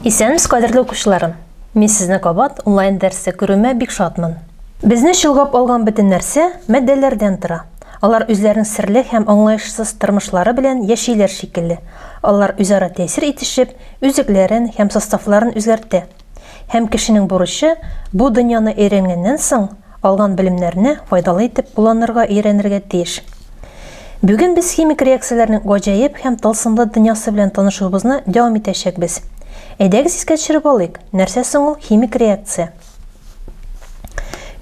Исәнмез, кадерле укучыларым. Мин сезне кабат онлайн дәрсе күрүемә бик шатмын. Безне чолгап алган бөтен нәрсә матдәләрдән тора. Алар үзләренең серле һәм аңлаешсыз тормышлары белән яшиләр шикелле. Алар үзара тәэсир итешеп, үзекләрен һәм составларын үзгәртә. Һәм кешенең бурычы, бу дөньяны өйрәнгәннән соң, алган белемнәрне файдалы итеп кулланырга өйрәнергә тиеш. Бүген без химик реакцияләрнең гаҗәеп һәм тылсымлы дөньясы белән танышуыбызны дәвам итәчәкбез. Әйдәгез искә төшереп алыйк, нәрсә соң ул химик реакция?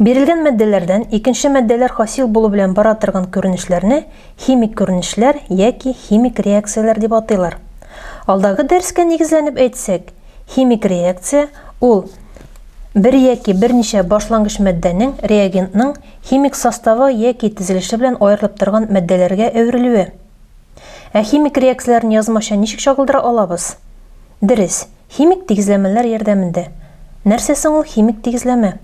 Бирелгән матдәләрдән икенче матдәләр хасил булу белән бара торган күренешләрне химик күренешләр яки химик реакцияләр дип атыйлар. Алдагы дәрескә нигезләнеп әйтсәк, химик реакция ул бер яки берничә башлангыч матдәнең реагентның химик составы яки тезелеше белән аерылып торган матдәләргә әверелүе. Ә химик реакцияләрне язмача ничек чагылдыра алабыз? Дөрес, Химик тигезләмәләр ярдәмендә. Нәрсә соң ул химик тигезләмә?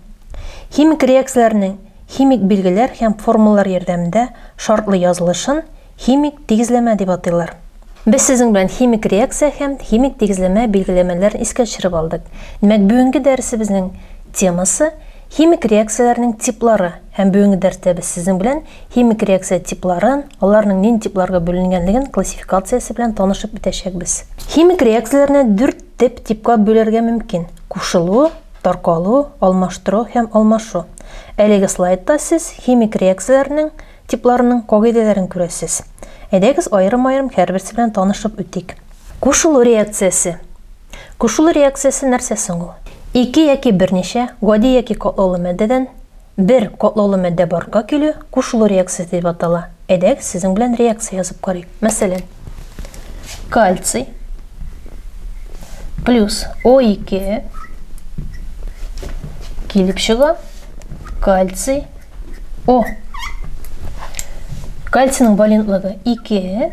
Химик реакцияләрнең химик билгеләр һәм формулалар ярдәмендә шартлы язылышын химик тигезләмә дип атыйлар. Без сезнең белән химик реакция һәм химик тигезләмә билгеләмәләрен искә төшереп алдык. Димәк, бүгенге дәресебезнең темасы, химик реакцияләрнең типлары. Һәм бүгенге дәрстә без сезнең белән химик реакция типларын, аларның нинди типларга бүленгәнлеген классификациясе белән танышып үтәчәкбез. Химик реакцияләрне дүрт теп типка бүләргә мөмкин, кушылу, таркалу, алмаштыру һәм алмашу. Әлеге слайдта сез химик реакцияләрнең типларының кагыйдәләрен күрәсез. Әйдәгез аерым-аерым һәрберсе белән танышып үтик. Кушылу реакциясе. Кушылу реакциясе нәрсә соң ул? Ике яки берничә, гади яки катлаулы матдәдән, Бер катлаулы матдә барка килү кушылу реакциясе дип атала. Әйдәгез, сезнең белән реакция язып карыйк. Мәсәлән, кальций плюс О2 килеп чыга кальций О. Кальцийның валентлыгы 2,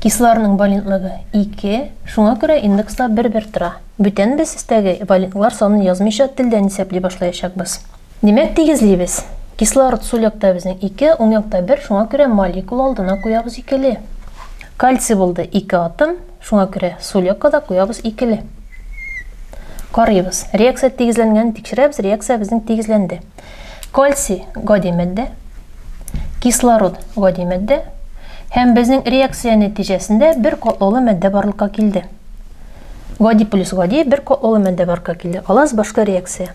кислорның валентлыгы 2, шуңа күрә индекслар бер-бер тора. Бүтән без өстәге валентлар санын язмыйча телдән исәпли башлаячакбыз. Димәк, тигезлибез. Кислород сул якта безнең ике, уң якта бер, шуңа күрә молекула алдына куябыз икеле. Кальций булды ике атом, шуңа күрә сул якка да куябыз икеле. Карыйбыз. Реакция тигезләнгәнен тикшерәбез, реакция безнең тигезләнде. Кальций гади матдә, кислород гади матдә, һәм безнең реакция нәтиҗәсендә бер катлаулы матдә барлыкка килде. Гади плюс гади бер катлаулы матдә барлыкка килде. Алаз башка реакция.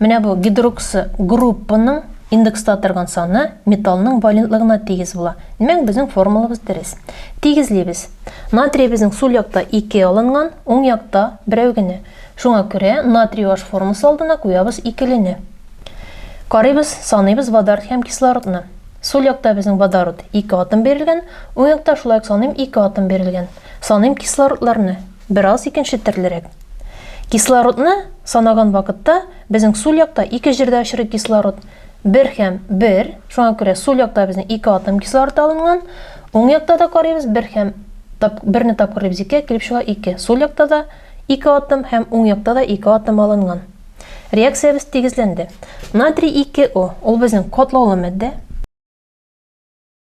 Менә бу гидроксы группаның индекста торган саны металлның валентлыгына тигез була. Димәк, безнең формулабыз дөрес. Тигезлибез. Натриебезнең сул якта ике алынган, уң якта берәү генә. Шуңа күрә натрий OH формасы алдына куябыз икелене. Карыйбыз, саныйбыз водород һәм кислородны. Сул якта безнең водород ике атом бирелгән, уң якта шулай ук саныйм ике атом бирелгән. Саныйм кислородларны. Бераз икенче төрлерәк. Кислородны санаган вакытта безнең сул якта ике җирдә очрый кислород. Бер һәм бер. Шуңа күрә сул якта безнең ике атом кислород алынган. Уң якта да карыйбыз, бер һәм тап, берне тапкырыйбыз икегә, килеп чыга ике. Сул якта да ике атом һәм уң якта да ике атом алынган. Реакциябез тигезләнде. Натрий 2О, ул безнең котлаулы матдә.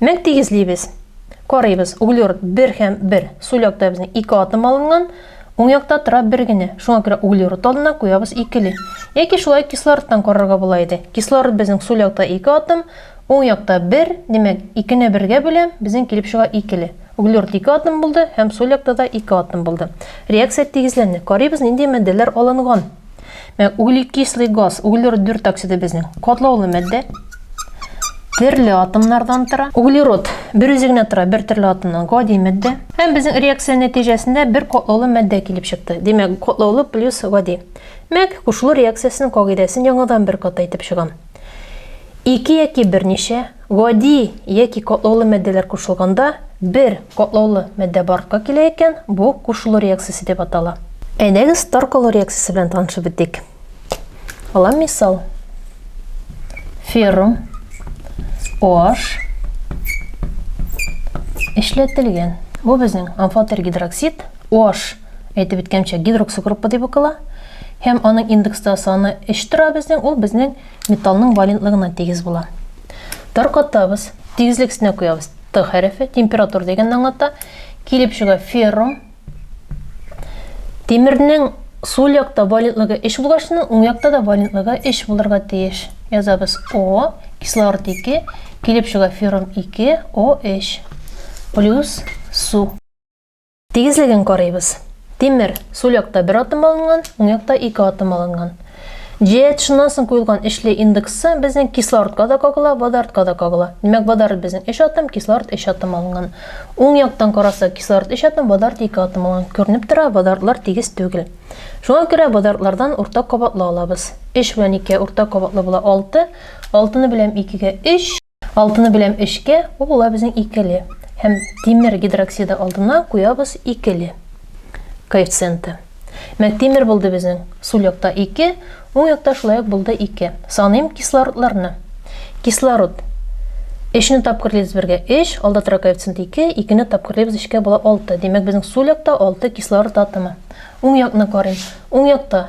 Мәк тигезлибез. Карыйбыз, углерод 1 һәм 1. Сул якта безнең 2 атом алынган, уң якта тора бер генә. Шуңа күрә углерод алдына куябыз икеле. Яки шулай кислородтан карарга була иде. Кислород безнең сул якта 2 атом, уң якта 1, димәк, 2 не 1 гә бүләм, безнең килеп чыга икеле. Углерод 2 атом булды һәм сул якта да 2 атом булды. Реакция тигезләнде. Карыйбыз, нинди матдәләр алынган. Ә углекислый газ, углерод 4 оксиды безнең катлаулы матдә. Төрле атомнардан тора. Углерод бер үзе генә тора, бер төрле атомнан гади матдә. Һәм безнең реакция нәтиҗәсендә бер катлаулы матдә килеп чыкты. Димәк, катлаулы плюс гади. Мәк, кушылу реакциясенең кагыйдәсен яңадан бер кат әйтеп чыгам. Ике яки берничә гади яки катлаулы матдәләр кушылганда бер катлаулы матдә барлыкка килә икән, бу кушылу реакциясе дип атала. Әйдәгез таркалу реакциясе белән танышып үтик. Алам мисал. Феррум OH эшләтелгән. Бу безнең амфотергидроксид OH Әйтеп үткәнчә, гидроксогруппа дип укыла. Һәм аның индексты саны 3 тора безнең, ул безнең металлның валентлыгына тигез була. Таркатабыз, тигезлек өстенә куябыз. Т хәрефе температура дигәнне аңлата. Килеп чыга феррум. Тимернең сул якта валентлыгы 3 булгачны, уң якта да валентлыгы 3 булырга тиеш. Язабыз О, кислород 2, килеп чыга феррум 2, О3 плюс су. Тигезлеген карыйбыз. Тимер, сул якта бер атом алынган, уң якта ике атом алынган. GH шуннан соң куелган эчле индексы безнең кислородка да кагыла, водородка да кагыла. Димәк, водород безнең 3 атом, кислород 3 атом алынган. Уң яктан карасак, кислород 3 атом, водород 2 атом алган. Күренеп тора, водородлар тигез түгел. Шуңа күрә водородлардан уртак кабатлы алабыз. 3 белән 2 уртак кабатлы була 6. 6-ны беләм 2-гә 3. Алтыны беләм өчкә, ул була безнең икеле. Һәм тимер гидроксиды алдына куябыз икеле коэффициенты. Мәк тимер булды безнең. Сул якта ике, уң якта шулай ук булды ике. Саныйм кислородларны. Кислород. Өчне тапкырлыйбыз бергә өч, алда тора коэффициент ике, икене тапкырлыйбыз өчкә була алты. Димәк, безнең сул якта алты кислород атомы. Уң якны карыйм. Уң якта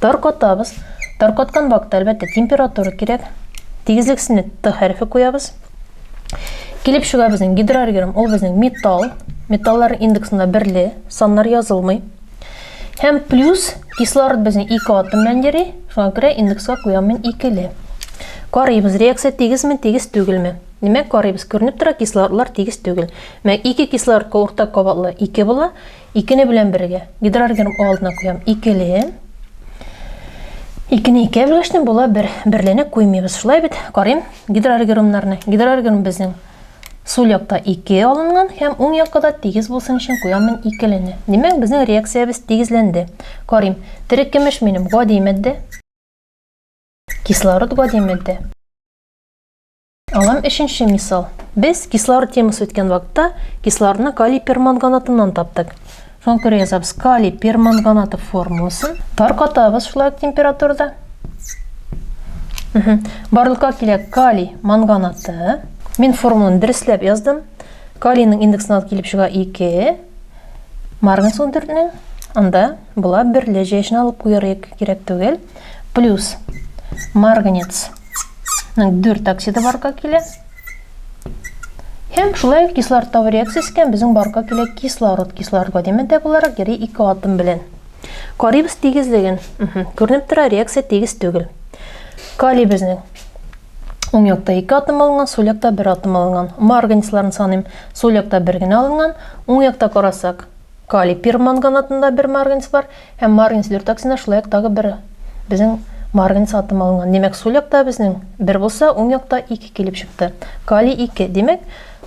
Таркатабыз. Таркаткан вакытта, әлбәттә, температура кирәк. Тигезлексенә Т хәрефе куябыз. Килеп чыга безнең гидроргерм, ул безнең металл. Металлар индексында берле, саннар язылмый. Һәм плюс кислород безнең ике атом белән йөри, шуңа күрә индекска куям мин икеле. Карыйбыз, реакция тигезме, тигез түгелме? Димәк, карыйбыз, күренеп тора, кислородлар тигез түгел. Мәк, ике кислородка уртак кабатлы ике була, Икене белән бергә. Гидроорганим О алдына куям. Икеле. Икене икә бүлештем, була бер. Берлене куймыйбыз. Шулай бит? Карыйм гидроорганимнарны. Гидроорганим безнең сул якта ике алынган һәм уң якка да тигез булсын өчен куям мин икелене. Димәк, безнең реакциябез тигезләнде. Карыйм. Терекемеш минем гади матдә. Кислород гади матдә. Алам өченче мисал. Без кислород темасы үткән вакытта кислородны калий перманганатыннан таптык. Шуңа күрә язабыз калий перманганаты формуласын. Таркатабыз шулай температурада. Барлыкка килә калий манганаты. Мин формуланы дөресләп яздым. Калийның индексын алып килеп чыга 2. Марганец 14-нең анда була берле җәешне алып куярга кирәк түгел. Плюс марганец 4 оксиды барка килә. Һәм шулай ук кислород табу реакциясе икән, безнең барка килә кислород, кислородга димәдә буларак йөри ике атом белән. Карибс тигезлеген. Күренеп тора, реакция тигез түгел. Калий безнең Уң якта 2 атом алынган, сул якта 1 атом алынган. Ма организмларын саныйм. Сул якта 1 генә алынган. Уң якта карасак, Калий перманганатында бер марганец бар һәм марганец дөртаксында шул як тагы бер безнең марганец атомы алынган. Димәк, сул якта безнең бер булса, уң якта ике килеп чыкты. Калий ике. Димәк,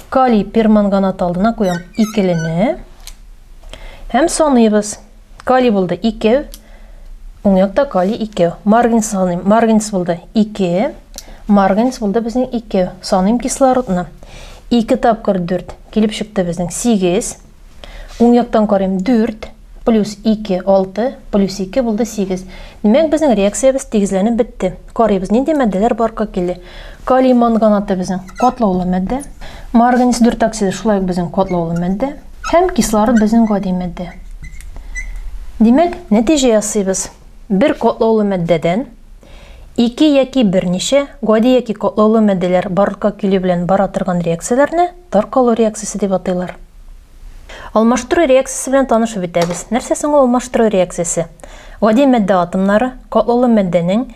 калий перманганаты алдына куям икелене һәм саныйбыз. Калий булды ике, уң якта калий ике. Марганец саныйм, марганец булды ике, марганец булды безнең ике. Саныйм кислородны. Ике тапкыр дүрт килеп чыкты безнең сигез. Уң яктан карыйм, 4 плюс 2, 6 плюс 2 булды 8. Димәк, безнең реакциябез тигезләнеп бетте. Карыйбыз, нинди матдәләр барка килде. Калий манганаты безнең катлаулы матдә. Марганец дүртоксиды шулай ук безнең катлаулы матдә. Һәм кислород безнең гади матдә. Димәк, нәтиҗә ясыйбыз. Бер катлаулы матдәдән ике яки берничә гади яки катлаулы матдәләр барлыкка килү белән бара торган реакцияләрне Таркалу реакциясе дип атыйлар. Алмаштыру реакциясе белән танышып бетәбез. Нәрсә соң ул алмаштыру реакциясе? Гади мәддә атомнары катлаулы мәддәнең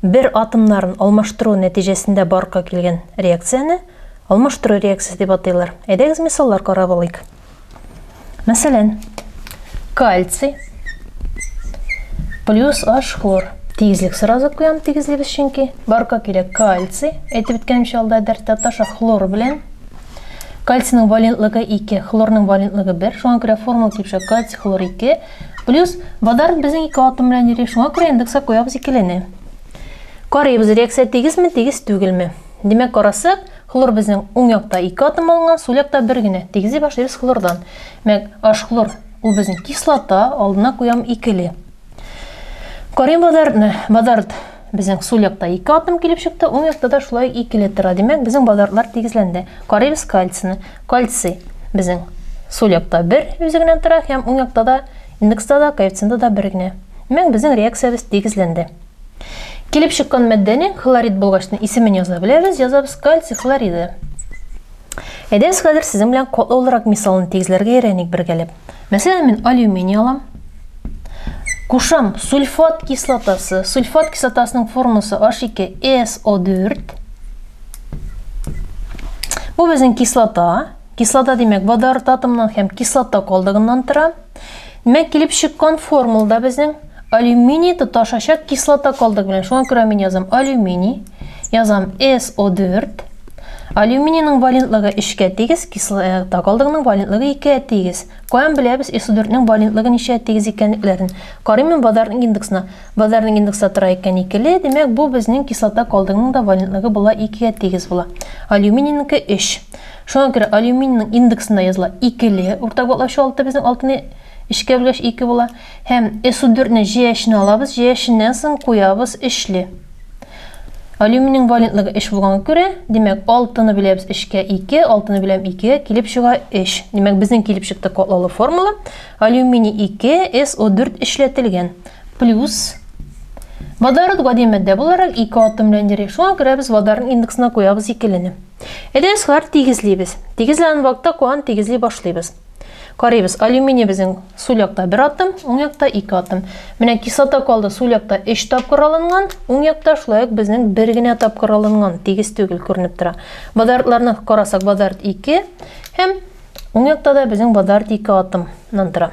бер атомнарын алмаштыру нәтиҗәсендә барка килгән реакцияне алмаштыру реакциясе дип атыйлар. Әйдәгез мисаллар карап алыйк. Мәсәлән, кальций плюс H хлор. Тигезлек сразу куям, тигезлек без чөнки. Барка кирәк кальций. Әйтеп беткәнемчә алда дәрттә таша хлор белән. Кальцийның валентлыгы 2, хлорның валентлыгы 1. Шуңа күрә формула кипшә кальций хлор 2. Плюс водород безнең ике атом белән йөри. Шуңа күрә индекска куябыз икелене. Карыйбыз, реакция тигезме, тигез түгелме. Димәк, карасак, Хлор безнең уң якта ике атом алынган, сул якта бер генә. Тигезли башлыйбыз хлордан. Мәк, аш хлор. Ул безнең кислота, алдына куям икеле. Карыйм бадарны. Бадард безнең сул якта ике атом килеп чыкты, уң якта да шулай икеле тора. Димәк, безнең бадардлар тигезләнде. Карыйбыз кальцины. Кальций безнең сул якта бер үзе генә тора һәм уң якта да индекста да коэффициенты да бер генә. Димәк, безнең реакциябез тигезләнде. Килеп чыккан матдәнең хлорид булгачны исемен яза беләбез, язабыз кальций хлориды. Әйдәгез хәзер сезнең белән катлаулырак мисалны тигезләргә өйрәник бергәләп. Мәсәлән, мин алюминий алам. Кушам сульфат кислотасы. Сульфат кислотасының формасы H2SO4. Бу безнең кислота. Кислота димәк, водород атомнан һәм кислота калдыгыннан тора. Димәк, килеп чыккан формулда безнең алюминий тоташачак кислота калдык белән. Шуңа күрә мин язам алюминий, язам SO4. Алюминийның валентлыгы 3-кә тигез, кислота калдыгының валентлыгы 2-гә тигез. Каян беләбез SO4-нең валентлыгы ничә тигез икәнлекләрен? Карыйм мин базарның индексына. Базарның индексы тора икән 2-ле, димәк, бу безнең кислота калдыгының да валентлыгы була 2-гә тигез була. Алюминийныкы 3. Шуңа күрә алюминийның индексында языла, икеле, уртак ватлаучы алты, безнең алтыны өчкә бүлгәч ике була, һәм SU4 не җәяшенә алабыз, җәяшеннән соң куябыз өчле. Алюминийның валентлыгы өч булганга күрә, димәк, алтыны бүләбез өчкә, ике, алтыны бүләм икегә, килеп чыга өч. Димәк, безнең килеп чыкты катлаулы формула, алюминий ике, SO4 өчләтелгән, плюс Водород гади матдә буларак ике атом белән йөри, шуңа күрә без водородның индексына куябыз икелене. Әйдәгез, шулар тигезлибез. Тигезләнгән вакытта куан тигезли башлыйбыз. Карыйбыз, алюминий безнең сул якта бер атым, уң якта ике атым. Менә кислота калды, сул якта өч тапкыр алынган, уң якта шулай ук безнең бер генә тапкыр алынган, тигез түгел күренеп тора. Бадартларны карасак, бадарт ике һәм уң якта да безнең бадарт ике атымнан тора.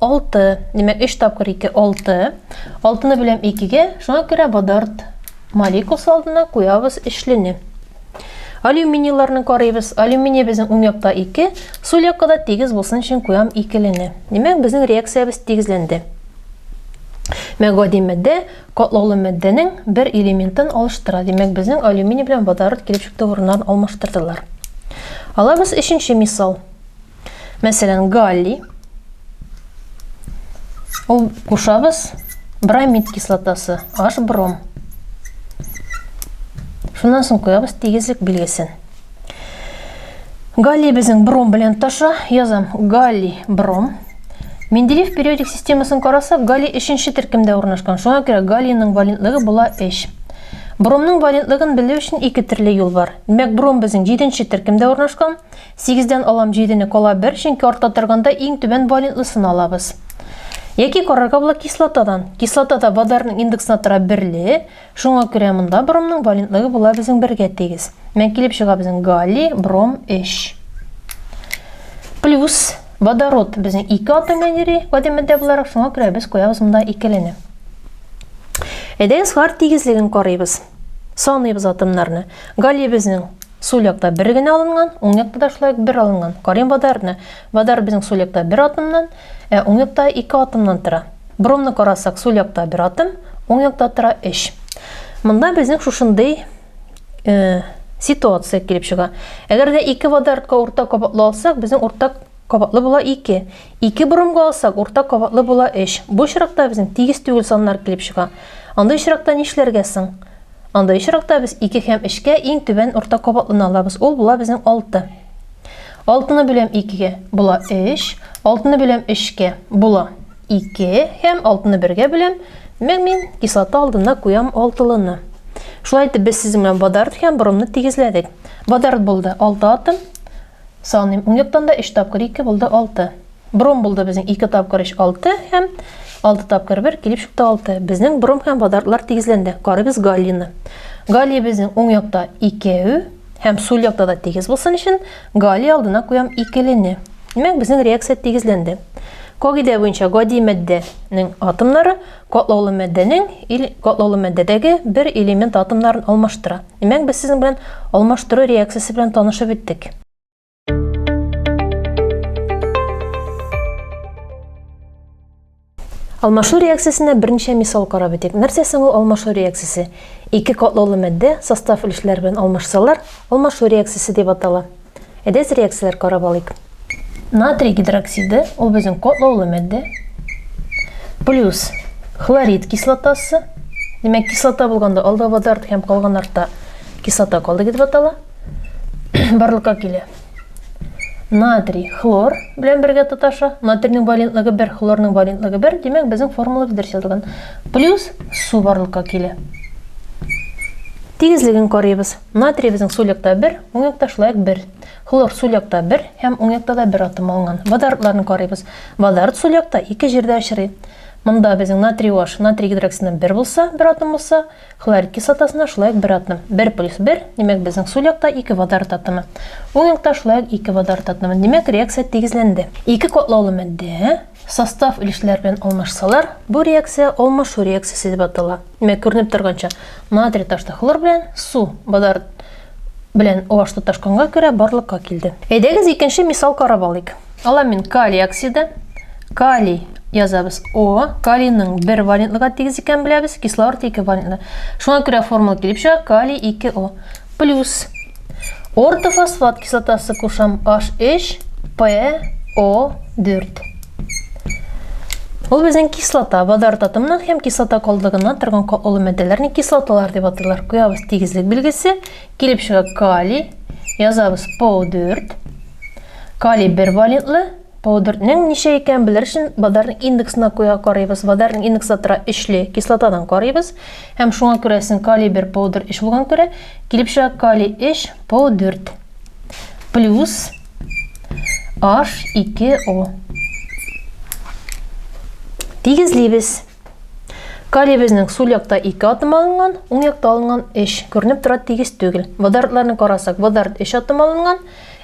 Алты. Димәк, өч тапкыр ике, алты. Алтыны бүләм икегә, шуңа күрә водорд молекуласы алдына куябыз өчлене. Алюминийларны карыйбыз. Алюминий безнең уң якта ике, сул якка да тигез булсын өчен куям икелене. Димәк, безнең реакциябез тигезләнде. Мә гади матдә катлаулы матдәнең бер элементын алыштыра. Димәк, безнең алюминий белән водород килеп чыкты урыннарын алмаштырдылар. Алабыз өченче мисал. Мәсәлән, галлий. Ул кушабыз бромид кислотасы, H бром. Шуннан соң куябыз тигезлек билгесен. Галлий безнең бром белән таша, язам галлий бром. Менделеев периодик системасын карасак, галлий өченче төркемдә урнашкан. Шуңа күрә галлийның валентлыгы була 3. Бромның валентлыгын белү өчен ике төрле юл бар. Димәк, бром безнең җиденче төркемдә урнашкан. Сигездән алам җидене кала бер, чөнки артта торганда иң түбән валентлысын алабыз. Яки карарга була кислотадан. Кислота да водорның индексына тора берле, шуңа күрә монда бромның валентлыгы була безнең бергә тигез. Мән килеп чыга безнең галлий, бром 3. Плюс водород безнең 2 атом әйнери гади матдә буларак, шуңа күрә без куябыз монда икелене. Әйдәгез хлор тигезлеген карыйбыз. Саныйбыз атомнарны. Галий безнең сул якта бер генә алынган, уң якта да шулай ук бер алынган. Карыйм водородны. Водород безнең сул якта бер атомнан, ә уң якта ике атомнан тора. Бромны карасак, сул якта бер атом, уң якта тора өч. Монда безнең шушындый э, ситуация килеп чыга. Әгәр дә ике водородка уртак кабатлы алсак, безнең уртак кабатлы була ике. Ике борынга алсак, уртак кабатлы була өч. Бу очракта безнең тигез түгел саннар килеп чыга. Андый очракта нишләргә соң? Андый очракта без ике һәм өчкә иң түбән уртак кабатлыны алабыз, ул була безнең алты. Алтыны бүләм икегә, була өч. Алтыны бүләм өчкә, була ике. Һәм алтыны бергә бүләм, димәк, мин кислота алдына куям алтылыны. Шулай итеп, без сезнең белән водород һәм брумны тигезләдек. Водород булды алты атом, Саныйм. Ун яктан да өч тапкыр ике булды алты. Бром булды безнең ике тапкыр өч алты һәм алты тапкыр бер килеп чыкты алты. Безнең бром һәм водородлар тигезләнде. Карыйбыз галлины. Галлий безнең уң якта икәү һәм сул якта да тигез булсын өчен галлий алдына куям икелене. Димәк, безнең реакция тигезләнде. Кагыйдә буенча гади матдәнең атомнары Катлаулы матдәнең ил катлаулы матдәдәге бер элемент атомнарын алмаштыра. Димәк, без сезнең белән алмаштыру реакциясе белән танышып беттек. Алмашу реакциясенә берничә мисал карап үтик. Нәрсә соң ул алмашу реакциясе? Ике катлаулы матдә состав өлешләре белән алмашсалар, алмашу реакциясе дип атала. Әйдәгез реакцияләр карап алыйк. Натрий гидроксиды, ул безнең котлаулы мәддә. Плюс хлорид кислотасы. Димәк, кислота булганда алда водород һәм калган артта кислота калды дип атала. Барлыкка килә. Натрий хлор белән бергә тоташа. Натрийның валентлыгы 1, хлорның валентлыгы 1. Димәк, безнең формула дөрес язылган. Плюс су барлыкка килә. Тигезлеген карыйбыз. Натрий безнең сулякта бер, уңякта шулай ук бер. Хлор сулякта бер һәм уңякта да бер атом алынган. Водородларны карыйбыз. Водород сулякта ике җирдә очрый. Монда безнең натрий OH натрий гидроксидына бер булса, бер атом булса, хлорид кислотасына шулай ук бер атом. Бер плюс бер, димәк, безнең сулякта ике водород атомы. Уңякта шулай ук ике водород атомы. Димәк, реакция тигезләнде. Ике катлаулы матдә Состав өлешләр белән алмашсалар, бу реакция алмашу реакциясе дип атала. Димәк, күренеп торганча, натрий ташты хлор белән, су, водород, белән OH тоташканга күрә, барлыкка килде. Әйдәгез икенче мисал карап алыйк. Аламин калий оксиды, калий язабыз О, калийның бер валентлыга тигез икәнен беләбез, кислород ике валентлы. Шуңа күрә формула килеп чыга, калий 2О. Плюс. Ортофосфат кислотасы кушам H3 PO4. Ул безнең кислота, водород атомының һәм кислота калдыгына торган катлы матдәләрне кислоталар дип атыйлар. Куябыз тигезлек билгесе, килеп чыга калий, язабыз PO4. Калий бер валентлы, Паудертның ничә икәнен белер өчен Бадарның индексына куя карыйбыз. Бадарның индексы тора өчле кислотадан карыйбыз. Һәм шуңа күрәсен калий 1 паудер 3 булган күрә, килеп чыга калий 3 паудерт. Плюс H2O. Тигезлибез. Калий безнең сул якта 2 атом алынган, уң якта алынган 3. Күренеп тора тигез түгел. Водородларны карасак, водород 3 атом алынган,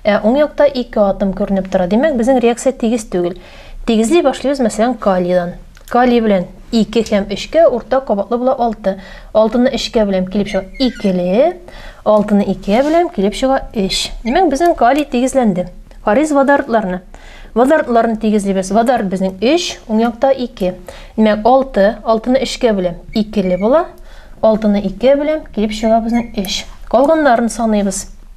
Ә уң якта ике атом күренеп тора. Димәк, безнең реакция тигез түгел. Тигезли башлыйбыз, мәсәлән, калийдан. Калий белән ике һәм өчкә уртак кабатлы була алты. Алтыны өчкә беләм, килеп чыга икеле. Алтыны икегә беләм, килеп чыга өч. Димәк, безнең калий тигезләнде. Карыйз водородларны. Водородларны тигезлибез. Водород безнең өч, уң якта ике. Димәк, алты, алтыны өчкә беләм, икеле була. Алтыны икегә беләм, килеп чыга безнең өч. Калганнарын саныйбыз.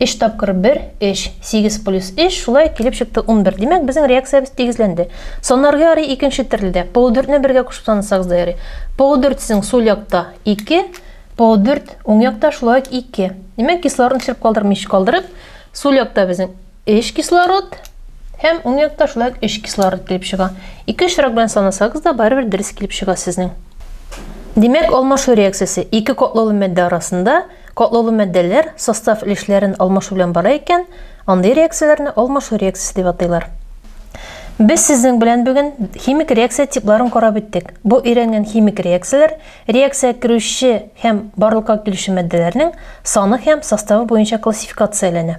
Өч тапкыр бер, өч. Сигез плюс өч, шулай килеп чыкты унбер. Димәк, безнең реакциябез тигезләнде. Санарга ярый икенче төрле дә. Полудүртне бергә кушып санасагыз да ярый. Полудүрт сезнең сул якта ике, полудүрт уң якта шулай ук ике. Димәк, кислородны төшереп калдырмыйча калдырып, сул якта безнең өч кислород һәм уң якта шулай ук өч кислород килеп чыга. Ике очрак белән санасагыз да барыбер дөрес килеп чыга сезнең. Димәк, алмашу реакциясе ике котлаулы матдә арасында Катлаулы матдәләр состав өлешләрен алмашу белән бара икән, андый реакцияләрне алмашу реакциясе дип атыйлар. Без сезнең белән бүген химик реакция типларын карап үттек. Бу өйрәнгән химик реакцияләр реакциягә керүче һәм барлыкка килүче матдәләрнең саны һәм составы буенча классификацияләнә.